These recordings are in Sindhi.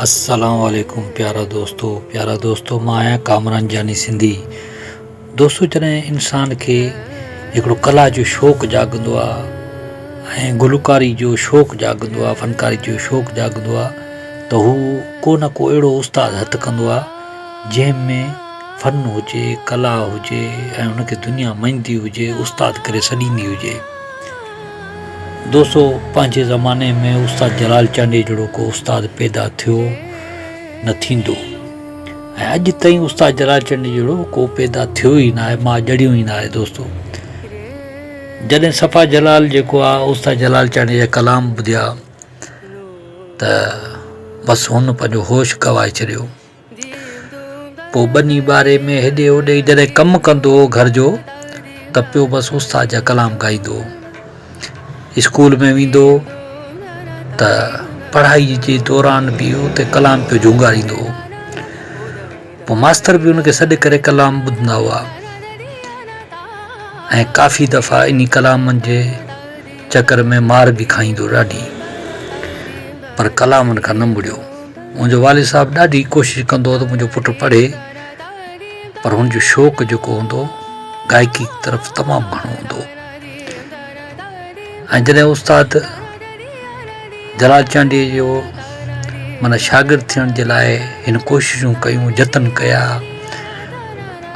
السلام عليڪم پيارا دوستو پيارا دوستو مان آهيان ڪامران جاني سنڌي دوستو جڏهن انسان کي هڪڙو ڪلا جو شوق جاڳندو آهي ۽ گلوڪاري جو شوق جاڳندو آهي فنڪاري جو شوق جاڳندو آهي ته هو ڪو نه ڪو اهڙو استاد هٿ ڪندو آهي جنهن ۾ فن هجي ڪلا هجي ۽ ان کي دنيا مڃيندي هجي استاد ڪري سڏيندي هجي دوستو پنهنجي زماني ۾ استاد جلال چانڊيي جهڙو ڪو استاد پيدا ٿيو نه ٿيندو ۽ اڄ تائين استاد جلال چانڊيي جهڙو ڪو پيدا ٿيو ئي ناهي ماء جڙيون ئي ناهي دوستو جڏهن صفا جلال جيڪو آهي استاد جلال چانڊيي جا ڪلام ٻڌيا ته بس هن پنهنجو هوش گوائي ڇڏيو پوء ٻني ٻاري ۾ هيڏي هوڏي جڏهن ڪم ڪندو هو گهر جو ته پيو بس استاد جا ڪلام ڳائيندو هو اسڪول ۾ ويندو هو ته پڙهائي جي دوران به اتي ڪلام پيو جهونگاريندو هو پوء ماستر به ان کي سڏ ڪري ڪلام ٻڌندا هئا ۽ ڪافي دفعا انهي ڪلامن جي چڪر ۾ مار به کائيندو ڏاڍي پر ڪلامن کان نه مڙيو منهنجو والد صاحب ڏاڍي ڪوشش ڪندو هو ته منهنجو پٽ پڙهي پر هن جو شوق جيڪو هوندو گائڪي طرف تمام گهڻو هوندو ۽ جڏهن استاد جلال چانڊيي جو مانا شاگرد ٿيڻ جي لاء هن ڪوششون ڪيون جتن ڪيا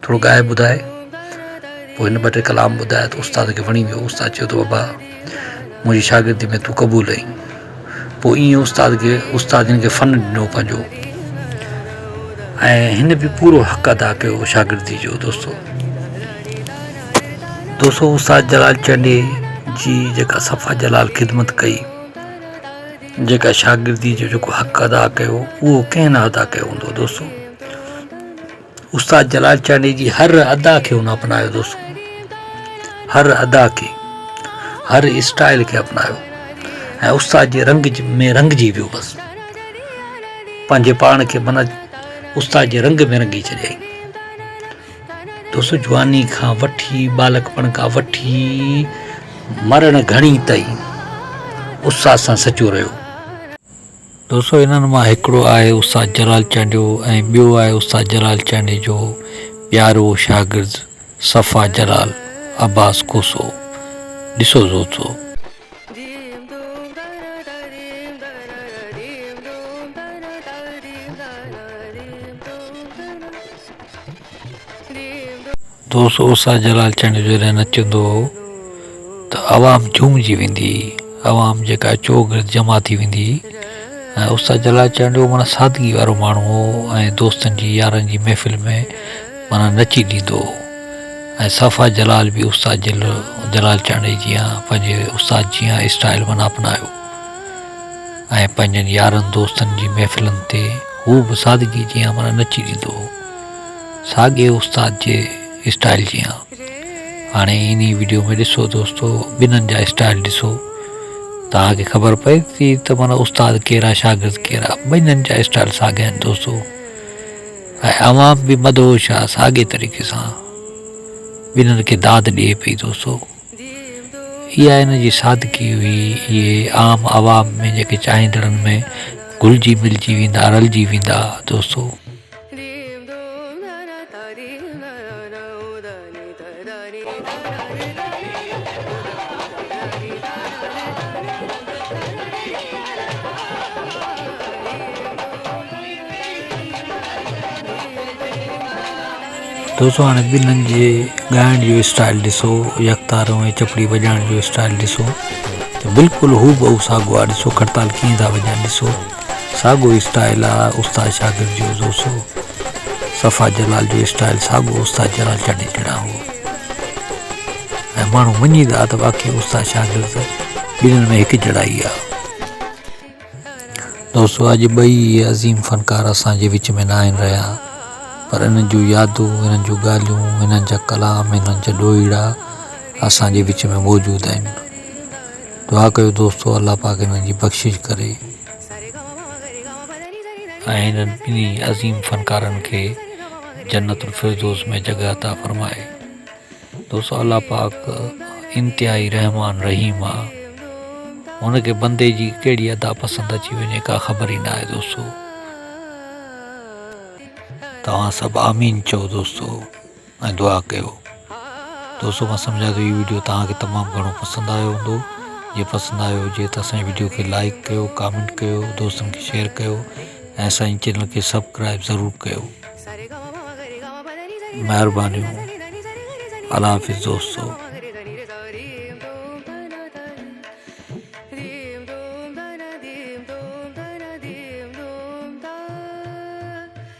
ٿورو ڳائي ٻڌاء. پوء هن ٻه ٽي ڪلام ٻڌايا ته استاد کي وڻي ويو. استاد چيو ته بابا منهنجي شاگردي ۾ تون قبول آهين. پوء ائين استاد کي استاد هن کي فن ڏنو پنهنجو ۽ هن به پورو حق ادا ڪيو شاگردي جو دوستو دوستو استاد جلال چنڊي جي جيڪا صفا جلال خدمت ڪئي جيڪا شاگردي جو جيڪو حق ادا ڪيو اهو ڪنهن نه ادا ڪيو هوندو دوستو استاد جلال چانڊيي جي هر ادا کي هن اپنايو دوستو هر ادا کي هر اسٽائل کي اپنايو ۽ استاد جي رنگ ۾ رنگجي ويو بس پنهنجي پاڻ کي منا استاد جي رنگ ۾ رنگي ڇڏيائين دوستو جواني کان وٺي ٻالڪپڻ کان وٺي مرڻ گهڙي تائين استاد سان سچو رهيو دوستو انهن مان هڪڙو آهي استاد جلال چانڊيو ۽ ٻيو آهي استاد جلال چانڊيو جو پيارو شاگرد صفا جلال عباس کوسو ڏسو دوستو. دوست اوسا جلال چنڊ جو جڏهن نچندو هو ته عوام جهومجي ويندي هئي عوام جيڪا چوگرد جمع ٿي ويندي هئي ۽ اوسا جلال چنڊ جو مانا سادگي وارو ماڻهو هو ۽ دوستن جي يارن جي محفل ۾ مانا نچي ڏيندو هو ۽ صفا جلال به اوسا جل جلال چنڊ جيان پنهنجي اوسا جيان اسٽائل مانا اپنايو ۽ پنهنجن يارن دوستن جي محفلن تي هو به سادگي جيان مانا نچي ڏيندو هو ساڳئي استاد جي اسٽائيل جيان هاڻي انهي ويڊيو ۾ ڏسو دوستو ٻنهن جا اسٽائيل ڏسو توهان کي خبر پئي ٿي ته معنيٰ استاد ڪير آهي شاگرد ڪير آهي ٻنهن جا اسٽائيل ساڳيا آهن دوستو ۽ عوام به مدهوش آهي ساڳئي طريقي سان ٻنهن کي داد ڏئي پئي دوستو اها ان جي سادگي هئي اهي عام عوام ۾ جيڪي چاهيندڙن ۾ گهلجي ملجي ويندا رلجي ويندا دوستو دوستو هاڻي ٻنهي جي ڳائڻ جو اسٽائل ڏسو يڪتارو ۽ چپڙي وڄائڻ جو اسٽائل ڏسو ته بلڪل هو بهو ساڳيو آهي ڏسو کرتال ڪيئن ٿا وڄائين ڏسو ساڳيو اسٽائيل آ استاد شاگرد جو زوسو صفا جلال جو اسٽائيل ساڳيو استاد جلال چاڍي جھڙا هو ۽ ماڻهو مڃي ٿا ته واقعي استاد شاگرد ٻنهي ۾ هڪ جھڙا ئي آ دوستو اڄ ٻئي عظيم فنڪار اسان جي وچ ۾ نه آهن رهيا پر انهن جون يادون انهن جون ڳالهيون انهن جا ڪلام انهن جا ڏوهيڙا اسان جي وچ ۾ موجود آهن دعا ڪيو دوستو الله پاڪ هنن جي بخشش ڪري ۽ هنن ٻنهي عظيم فنڪارن کي جنت الفردوس ۾ جڳهه عطا فرمائي دوستو الله پاڪ انتهائي رحمان رحيم آهي هن کي بندي جي ڪهڙي ادا پسند اچي وڃي ڪا خبر ئي ناهي دوستو توهان سڀ آمين چئو دوستو ۽ دعا ڪيو دوستو مان سمجهان ٿو هي وڊيو توهان کي تمام گهڻو پسند آيو هوندو جي پسند آيو هجي ته اسان جي وڊيو کي لائڪ ڪيو ڪامينٽ ڪيو دوستن کي شيئر ڪيو ۽ اسان جي چينل کي سبڪرائب ضرور ڪيو مهربانيون الله حافظ دوستو